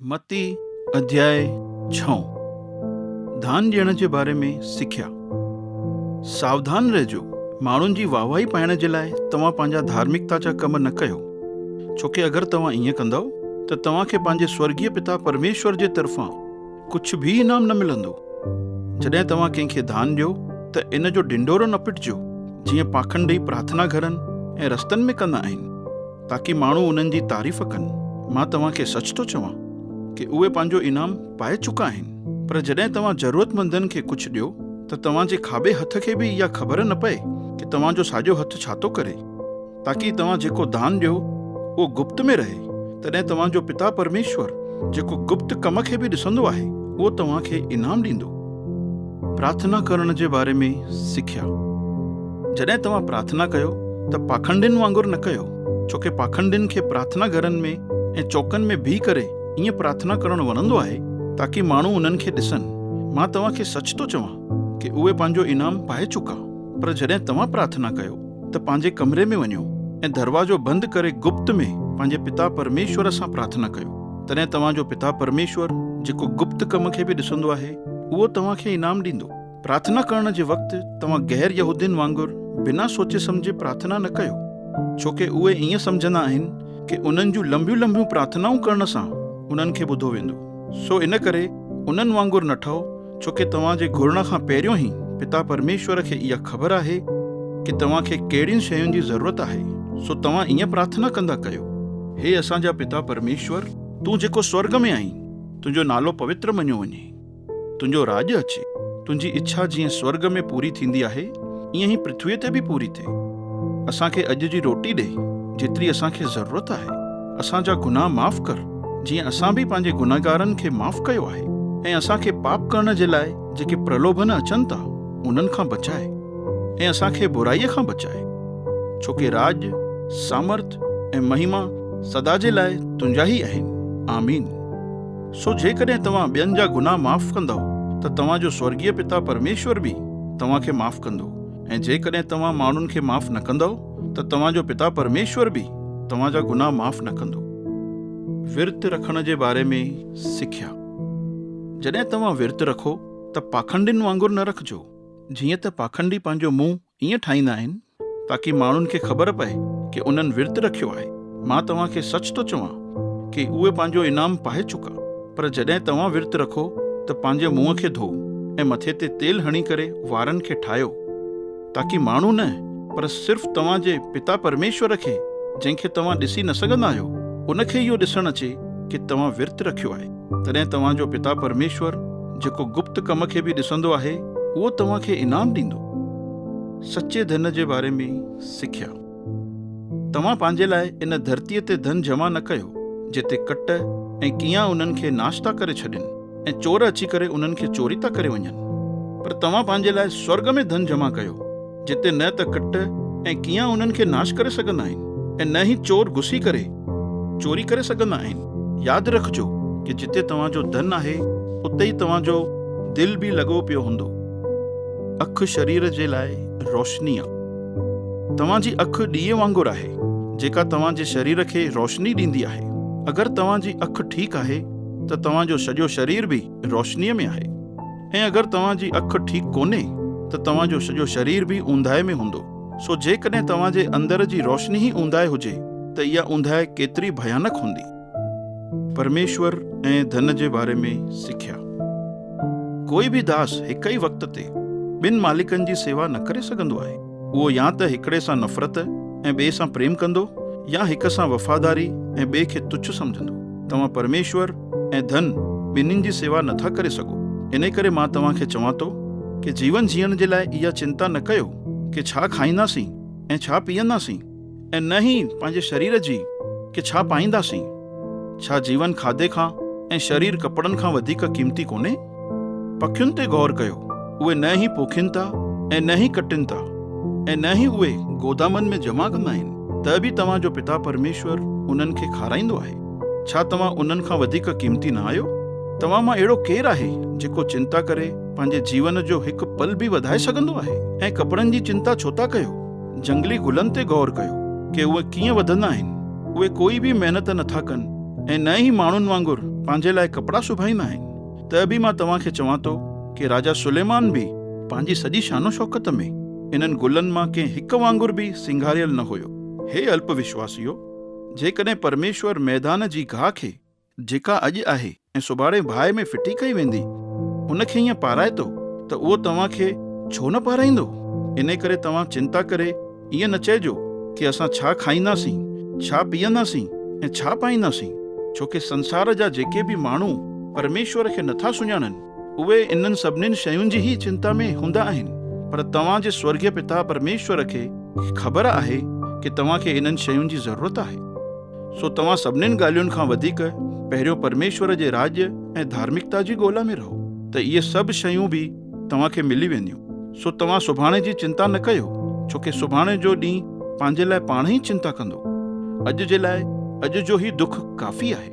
متي اڌياء ڇهون، ڌان ڏيڻ جي باري ۾ سکيا، ساوڌان رهجو، ماڻهن جي واهه واهي پائڻ جي لاء توهان پنهنجا ڌارمڪتا جا ڪم نه ڪيو، ڇوڪه اگر توهان ائين ڪندؤ ته توهان کي پنهنجي سورڳيه پتا پرميشور جي طرفان ڪجهه به انعام نه ملندو. جڏهن توهان ڪنهن کي ڌان ڏيو ته ان جو ڍنڍورو نه پٽجو، جيئن پاکنڊي پرارٿنا گهرن ۽ رستن ۾ ڪندا آهن. تاڪي ماڻهو انهن جي تعريف ڪن. مان توهان کي سچ ٿو چوان ڪي اهي پنهنجو انعام پائي چڪا آهن. پر جڏهن توهان ضرورتمندن کي ڪجهه ڏيو ته توهان جي کاٻي هٿ کي به اها خبر نه پئي ڪي توهان جو ساڄو هٿ ڇا ٿو ڪري. تاڪي توهان جيڪو دان ڏيو اهو گپت ۾ رهي، تڏهن توهان جو پتا پرميشور جيڪو گپت ڪم کي به ڏسندو آهي اهو توهان کي انعام ڏيندو. پرارٿنا ڪرڻ جي باري ۾ سکيا. جڏهن توهان پرارٿنا ڪيو ته پاکنڊين وانگر نه ڪيو، ڇو ڪه پاکنڊين کي پرارٿنا گهرن ۾ ۽ چوڪن ۾ بيهي ڪري ائين پرارٿنا ڪرڻ وڻندو آهي تاڪه ماڻهو انهن کي ڏسن. مان توهان کي سچ ٿو چوان ته اهي پنهنجو انعام پائي چڪا. پر جڏهن توهان پرارٿنا ڪيو ته پنهنجي ڪمري ۾ وڃو ۽ دروازو بند ڪري گپت ۾ پنهنجي پتا پرميشور سان پرارٿنا ڪيو. تڏهن توهان جو پتا پرميشور جيڪو گپت ڪم کي به ڏسندو آهي اهو توهان کي انعام ڏيندو. پرارٿنا ڪرڻ جي وقت توهان غير يهودين وانگر بنا سوچي سمجهي پرارٿنا نه ڪيو، ڇو ڪي اهي ائين سمجهندا آهن ڪي انهن جون لنبيون لنبيون پرارٿنائون ڪرڻ سان انهن کي ٻڌو ويندو، سو ان ڪري انهن وانگر نه ٺهو، ڇو ڪي توهان جي گهرڻ کان پهريون هي پتا پرميشور کي اها خبر آهي ڪي توهان کي ڪهڙين شين جي ضرورت آهي سو توهان ايئن پرارٿنا ڪندا ڪيو، هي اسان جا پتا پرميشور تون جيڪو سورگ ۾ آهين تنهنجو نالو پوتر مڃيو وڃي، تنهنجو راڄ اچي، تنهنجي اڇا جيئن سورگ ۾ پوري ٿيندي آهي ايئن هي پرٿوي تي به پوري ٿئي، اسان کي اڄ جي روٽي ڏي جيتري اسان کي ضرورت آهي. اسان جا گناهه معاف ڪر، جيئن اسان به پنهنجي گنهگارن کي معاف ڪيو آهي، ۽ اسان کي پاپ ڪرڻ جي لاء جيڪي پرلوڀن اچن ٿا، انهن کان بچاء، ۽ اسان کي برائيء کان بچاء، ڇوڪه راڄ، سامرٿ ۽ مهما سدا جي لاء تنهنجا ئي آهن. آمين. سو جيڪڏهن توهان ٻين جا گناهه معاف ڪندؤ ته توهان جو سورڳيه پتا پرميشور به توهان کي معاف ڪندو، ۽ جيڪڏهن توهان ماڻهن کي معاف نه ڪندؤ، ته توهان جو پتا پرميشور به توهان جا گناهه معاف نه ڪندو. ورت رکڻ جي باري ۾ سکيا، جڏهن توهان ورت رکو ته پاکنڊين وانگر نه رکجو، جيئن ته پاکنڊي پنهنجو منهن ائين ٺاهيندا آهن تاڪي ماڻهن کي خبر پئي ڪي انهن ورت رکيو آهي. مان توهان کي سچ ٿو چوان ڪي اهي پنهنجو انعام پائي چڪا. پر جڏهن توهان ورت رکو ته پنهنجي منهن کي ڌوئو ۽ مٿي تي تيل هڻي ڪري وارن کي ٺاهيو. تاڪي ماڻهو نه پر صرف توهان جي پتا پرميشور کي جنهن کي توهان ڏسي نه سگهندا آهيو ان کي اهو ڏسڻ اچي ڪي توهان ورت رکيو آهي تڏهن توهان جو پتا پرميشور جيڪو گپت ڪم کي به ڏسندو آهي اهو توهان کي انعام ڏيندو. سچي ڌن جي باري ۾ سکيا. توهان پنهنجي لاء ان ڌرتيء تي ڌن جمع نه ڪيو، جتي ڪٽ ۽ ڪيان انهن کي ناش ٿا ڪري ڇڏين ۽ چور اچي ڪري انهن کي چوري ٿا ڪري وڃن. پر توهان پنهنجي لاء سورڳ ۾ ڌن جمع ڪيو، جتي نه ته ڪٽ ۽ ڪيان انهن کي ناش ڪري سگهندا آهن ۽ نه ئي چور گهسي ڪري چوري ڪري سگهندا آهن. ياد رکجو ته جتي توهان جو ڌن آهي، اتي ئي توهان جو دل به لڳو پيو هوندو. اک شرير جي لاء روشني آ. توهان جي اک ڏيئي وانگر آهي، جيڪا توهان جي شرير کي روشني ڏيندي آهي. اگر توهان جي اک ٺيڪ آهي ته توهان جو سڄو شرير به روشنيء ۾ آهي ۽ اگر توهان جي اک ٺيڪ ڪونهي ته توهان جو سڄو شرير به اونداهي ۾ هوندو. سو جيڪڏهن توهان جي اندر جي روشني ئي اونداهي هجي ته اها اونداهي ڪيتري ڀيانڪ هوندي. پرميشور ۽ ڌن جي باري ۾ سکيا. ڪوئي به داس هڪ ئي وقت تي ٻن مالڪن جي سيوا نه ڪري سگهندو آهي. اهو يا ته هڪڙي سان نفرت ۽ ٻئي سان پريم ڪندو يا هڪ سان وفاداري ۽ ٻئي کي تڇ سمجهندو. توهان پرميشور ۽ ڌن ٻنهين جي سيوا نه ٿا ڪري سگهو. انهي ڪري مان توهان کي چوان ٿو ڪي جيون جيئڻ جي لاء اها چنتا نه ڪيو ڪي ڇا کائينداسين ۽ ڇا پيئنداسين. ۽ نه ئي پنهنجي شرير جي کي ڇا پائينداسين؟ ڇا جيون کاڌي کان ۽ شرير ڪپڙن کان وڌيڪ قيمتي ڪونهي؟ پکين تي غور ڪيو، اهي نه ئي پوکين ٿا ۽ نه ئي ڪٽين ٿا ۽ نه ئي اهي گودامن ۾ جمع ڪندا آهن، ته به توهان جو پتا پرميشور انهن کي کارائيندو آهي. ڇا توهان انهن کان وڌيڪ قيمتي نه آهيو؟ توهان مان اهڙو ڪير آهي جيڪو چنتا ڪري پنهنجي جيون جو هڪ پل به وڌائي سگهندو آهي؟ ۽ ڪپڙن جي چنتا ڇو ٿا ڪيو؟ جهنگلي گلن تي غور ڪيو ڪي اهي ڪيئن وڌندا آهن. اهي ڪوئي به محنت نه ٿا ڪن ۽ نه ئي ماڻهن وانگر پنهنجي لاء ڪپڙا سبائيندا آهن. ته به مان توهان کي چوان ٿو ڪي راجا سليمان به پنهنجي سڄي شان و شوڪت ۾ انهن گلن مان ڪنهن هڪ وانگر به سينگاريل نه هيو. هي الپ وشواسيو! جيڪڏهن پرميشور ميدان جي گاهه کي جيڪا اڄ آهي ۽ سڀاڻي باهه ۾ ڦٽي ڪئي ويندي، ان کي ائين پارائتو ته اهو توهان کي ڇو نه پارائيندو؟ انهيء ڪري توهان چنتا ڪري ائين نه چئجو ڪي اسان ڇا کائينداسين، ڇا پيئنداسين ۽ ڇا پائينداسين، ڇو ڪي سنسار جا جيڪي به ماڻهو پرميشور کي نٿا سڃاڻن، اهي انهن سڀنين شين جي ئي چنتا ۾ هوندا آهن، پر توهان جي سورڳيه پتا پرميشور کي خبر آهي ڪي توهان کي انهن شين جي ضرورت آهي. سو توهان سڀنين ڳالهين کان وڌيڪ پهريون پرميشور جي راڄ ۽ ڌارمڪتا جي ڳولا ۾ رهو ته اهي سڀ شيون به توهان کي ملي وينديون. سو توهان سڀاڻي جي چنتا نه ڪيو، ڇو ڪي سڀاڻي جو ڏينهن پنهنجي لاء پاڻ ئي چنتا ڪندو. اڄ جي لاء اڄ جو هي دک ڪافي آهي.